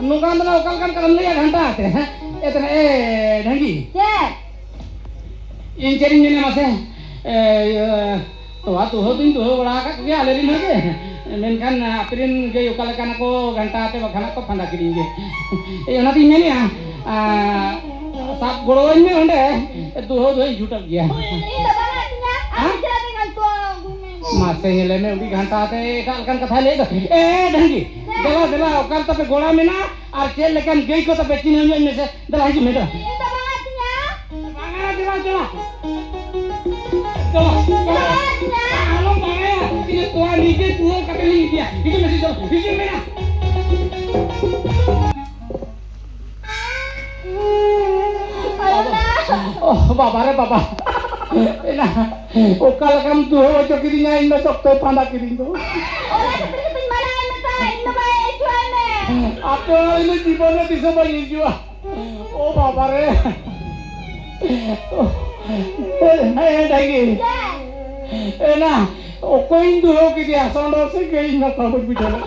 ᱱᱚᱝᱠᱟᱱ ᱫᱚ ᱚᱠᱟ ᱞᱮᱠᱟᱱ ᱠᱟᱱᱟᱢ ᱞᱟᱹᱭᱟ ᱜᱷᱟᱱᱴᱟ ᱟᱛᱮ ᱦᱮᱸ ᱮᱛᱱᱟ ᱮ ᱰᱷᱟᱝᱜᱤ ᱪᱮᱫ ᱤᱧ ᱪᱮᱫ ᱤᱧ ᱢᱮᱱᱟ ᱢᱟᱥᱮ ᱛᱚᱣᱟ ᱫᱩᱦᱟᱹᱣ ᱫᱩᱧ ᱫᱩᱦᱟᱹᱣ ᱵᱟᱲᱟ ᱟᱠᱟᱫ ᱠᱚᱜᱮᱭᱟ ᱟᱞᱮ ᱨᱮᱱ ᱦᱚᱸᱜᱮ ᱢᱮᱱᱠᱷᱟᱱ ᱟᱯᱮ ᱨᱮᱱ ᱜᱟᱹᱭ ᱚᱠᱟ ᱞᱮᱠᱟᱱᱟ ᱠᱚ ᱜᱷᱟᱱᱴᱟ ᱟᱛᱮ ᱵᱟᱠᱷᱟᱱ ᱠᱚ ᱯᱷᱟᱸᱫᱟ ᱠᱤᱫᱤᱧ ᱜᱮ ᱮᱭ ᱚᱱᱟᱛᱤᱧ ᱢᱮᱱᱮᱜᱼᱟ ᱥᱟᱵ ᱜᱚᱲᱚᱣᱟᱹᱧ ᱢᱮ ᱚᱸᱰᱮ ᱫᱩᱦᱟᱹᱣ ᱫᱚ ᱤᱧ ᱪᱷᱩᱴᱟᱹᱜ ᱜᱮᱭᱟ ᱢᱟᱥᱮ ᱧᱮᱞᱮ ᱢᱮ ᱩᱰᱤ ᱜᱷᱟᱱᱴᱟ ᱛᱮ ᱮᱴᱟᱜ ᱞᱮᱠᱟᱱ ᱠᱟᱛᱷᱟᱭ ᱞᱟᱹᱭ ᱫᱚ ᱮ ᱰᱟᱝᱜᱤ ᱫᱮᱞᱟ ᱫᱮᱞᱟ ᱚᱠᱟ ᱨᱮ ᱛᱟᱯᱮ ᱜᱚᱲᱟ ᱢᱮᱱᱟᱜᱼᱟ ᱟᱨ ᱪᱮᱫ ᱞᱮᱠᱟᱱ ᱜᱟᱹᱭ ᱠᱚ ᱛᱟᱯᱮ ᱪᱤᱱᱦᱟᱹᱣ ᱧᱚᱜ ᱢᱮᱥᱮ ᱫᱮᱞᱟ ᱦᱤᱡᱩᱜ ᱢᱮ ᱫᱮᱞᱟ ᱵᱟᱝᱟ ᱫᱮᱞᱟ ᱫᱮᱞᱟ ᱟᱞᱚᱢ ᱵᱟᱲᱟᱭᱟ ᱤᱧ ᱛᱚᱣᱟ ᱱᱤᱡᱮ ᱛᱩᱣᱟᱹ ᱠᱟᱛᱮ ᱞᱤᱧ ᱤᱫᱤᱭᱟ ᱦᱤᱡᱩᱜ ᱢᱮᱥᱮ ᱫᱮᱞᱟ ᱦᱤᱡᱩᱜ ᱢᱮ ᱵᱟᱵᱟ ᱨᱮ ᱵᱟᱵᱟ ᱮᱱᱟ ᱚᱠᱟ ᱞᱮᱠᱟᱢ ᱫᱩᱦᱟᱹ ᱦᱚᱪᱚ ᱠᱤᱫᱤᱧᱟ ᱤᱧ ᱫᱚ ᱥᱚᱠᱛᱚᱭ ᱯᱷᱟᱸᱫᱟ ᱠᱤᱫᱤᱧ ᱫᱚ ᱟᱯᱮ ᱤᱧ ᱡᱤᱵᱚᱱ ᱨᱮ ᱛᱤᱥ ᱦᱚᱸ ᱵᱟᱹᱧ ᱦᱤᱡᱩᱜᱼᱟ ᱳ ᱵᱟᱵᱟ ᱨᱮ ᱦᱮᱸ ᱰᱟᱹᱜᱤ ᱮᱱᱟ ᱚᱠᱚᱭᱤᱧ ᱫᱩᱦᱟᱹ ᱠᱮᱫᱮᱭᱟ ᱥᱚᱸᱰᱚ ᱥᱮ ᱜᱟᱹᱭ ᱱᱚᱠᱟ ᱵᱟᱹᱧ ᱵᱩᱡᱷᱟᱹᱣ ᱞᱮᱫ